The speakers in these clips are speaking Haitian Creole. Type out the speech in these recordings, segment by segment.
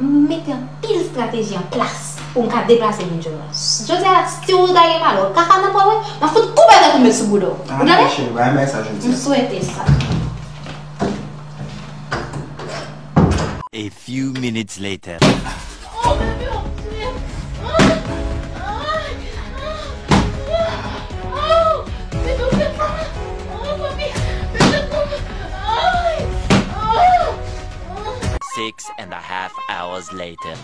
M mete anpil strateji an plas pou m ka deplase vin jwenn ou. Jodi a, si ou ta gen malè, ou ka ka nan pwen mwen, m ap fout koupe tèt ou m met sou bouda w. Ou tande? M swete sa. A few minutes later. Oh bebe wap touye m. Six and a half hours later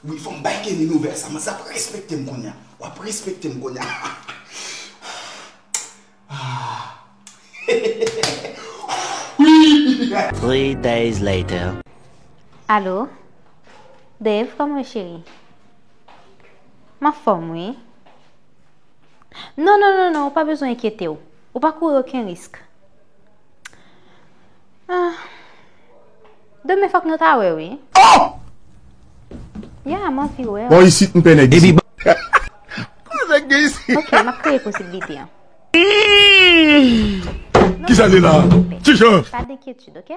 Wi fòm bay Kenny nouvèl sa mas ap respektem kounya wap respektem kounya Heheheheh Three days later Alo Dave kòman ou cheri M anfòm wi Non non non ou pa bezwen enkyetew. Ou pa kouri oken risk. Ah. Demen fòk nou ta wè wi. Oh! Yeah, m anvi wè w. Bon isit m pè nèg isit. Kòman nèg gen isit? Ok, m ap kreye posibilite an. Kisa li la? Ki jan? Pa gen enkyetid, ok?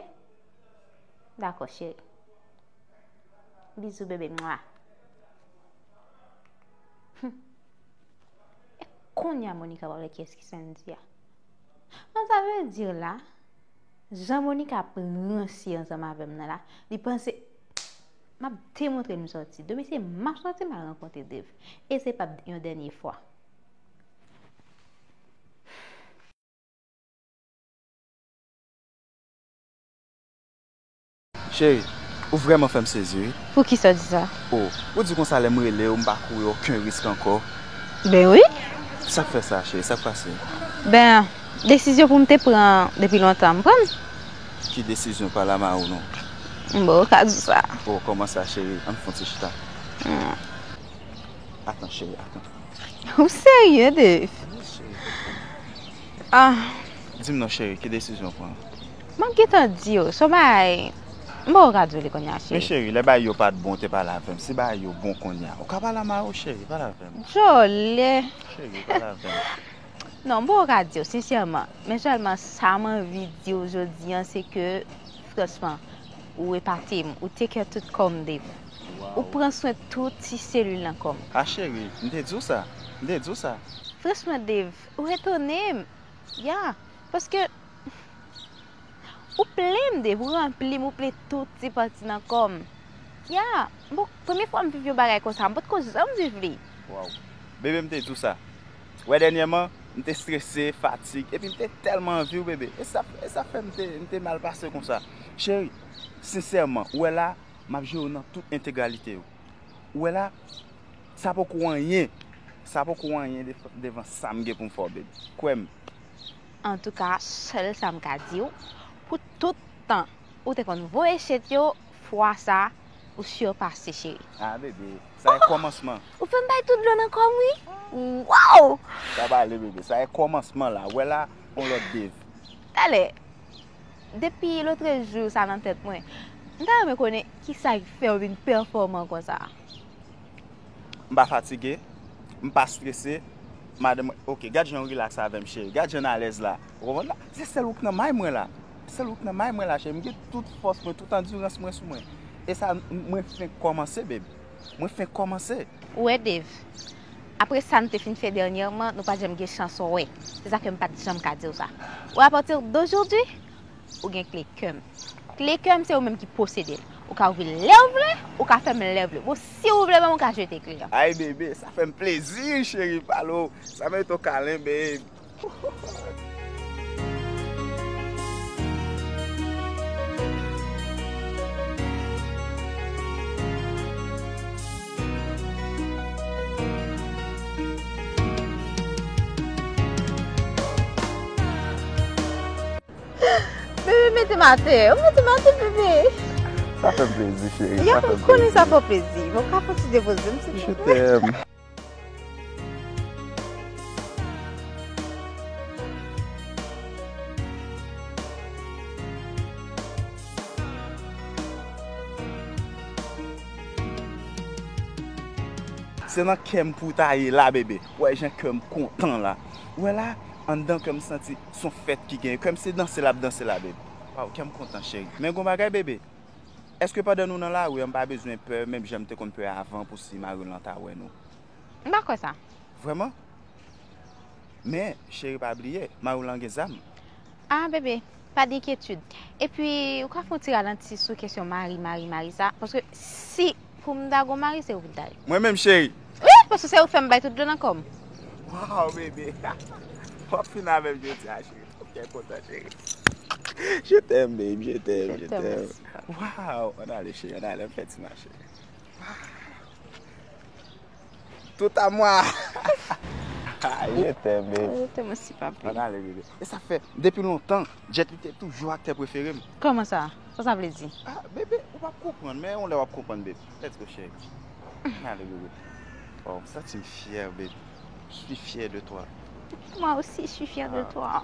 Dakò cheri. Bizou bebe mwah. Konya Monica pral wè kiyès ki Sandy a. An sa vle di la, jan Monica ap ranse ansanm avè m nan la, li panse M ap demontre m santi. Demen se m ap santi m al rankontre Dave. E se pap yon dènye fwa. Cheri, ou vrèman fè m sezi wi. Poukisa w di sa? O, ou di konsa lè m rele w m pa kouri oken risk ankò. Ben wi. Sa k fè sa, cheri? Sa k pase? Ben, desizyon pou m te pran depi lontan m pran l. Ki desizyon? Pale a m a ou non. Bon, ou ka di sa. O, kòman sa, cheri? An n fon ti chita. Atan, cheri, atan. Ou serye, Dave? Wi, cheri. An. Di m non, cheri, ki desizyon w pran? Map gentan diw son bagay m baw radyo li kounya cheri. Me cheri lè bagay yo pat bon ou te pale avèm si bagay yo bon kounya ou ka pale avm ayo cheri pale avèm. Jole. Cheri pale avèm. Non m baw radyo sinsèman men sèlman sam anvi diw jodi an se ke franchman ou epatem ou take care tout kòm babe ou pran swen tout ti selil nan kòm. Ah cheri m te diw sa m te diw sa. Franchman Dave ou etonem yeah paske. Ou plen m depi ou ranpli m ou plen tout ti pati nan kò m Ya m pot premye fwa m viv yon bagay konsa m pot ko janm viv li Waww bebe m te di w sa wè dènyèman m te strese fatig epi m te tèlman anvi w bebe e sa e sa fè m te m te mal pase konsa cheri sensèman ou wè la m ap jere w nan tout entegralite yo ou wè la sa poko anyen sa poko anyen devan sa m gen pou m fè w bebe kwè m. Antouka sèl sa m ka di w pou tout tan ou te konn voye chet yo fwa sa ou surpase cheri. Ah bebe sa e komansman. Ohh ou fem bay tout dlo nan kom wi waww. Pa pale bebe sa e komansman la wè la on lot bev. Talè depi lotrejou sa nan tèt mwen m ta renmen konnen kisa ki fèw vin pèfòman konsa. M pa fatige, m pa strese, madanm mwen, ok, gad jan ou rilaks avèm cheri, gad jan n alèz la, ou konprann la, se sèl ou k nan may mwen la, sèl ou k nan may mwen la cheri, m gen tout fòs mwen, tout andirans mwen sou mwen, e sa mwen fenk kòmanse beb, mwen fenk kòmanse. Ou wè Dave, apre sa n te fin fè dènyèman, nou pa janm gen chans wè, se sa fè m pa t janm ka di w sa, wè apati dojodwi, ou gen kle kè m. Kle kè m se ou menm ki posede l. Ou ka ouvri l lè w vle, ou ka fèmen l lè w vle. Bon, si ou vle menm ou ka jete kle an. Ay bebe, sa fè m plezi cheri pa l ou. Sa merite yon kalen babe. Bebe mete m atè. Ou mete m atè bebe. Sa fè m plezi cheri. Yap m konnen sa fè w plezi. Bon ka fon ti depoze m silvouplè. Je t'aime. Se nan kè m pou w ta ye la bebe. Ou wè jan kè m kontan la. Ou wè la anndan kè m santi. son fèt ki gen kèm se danse lap danse la beb waw kèm kontan cheri men gon bagay bebe eske pandan nou nan lari an m pa bezwen pè menm janm te konn pè avan pou si mariw lan ta wè nou. M pa kwè sa. Vrèman men cheri pa bliye mariw lan gen zam. Ah bebe pa denkyetud epi ou ka fon ti ralanti sou kesyon mari mari mari sa paske si Pou m ta gon mari se ou pou m ta ye. Mwen menm cheri. Wi paske se ou k fè m bay tout dlo nan kò m. Waww bebe wap fin avèm jodi a cheri mwen byen kontan cheri je t'aime baby je t'aime je t'aime waww ann ale cheri ann ale ann fè ti mache waww. Tout a mwa. Je t'aime baby. Je t'aime aussi papi. An ale bebe. E sa fè depi lontan Jet li te toujou aktè preferem. Kòman sa? Sa sa vle di? Ah bebe ou pap konprann men yon lè wap konprann baby. Let's go chérie. An ale bebe. Waww m santim fyè baby. Je suis fier de toi. Moi aussi je suis fier de toi.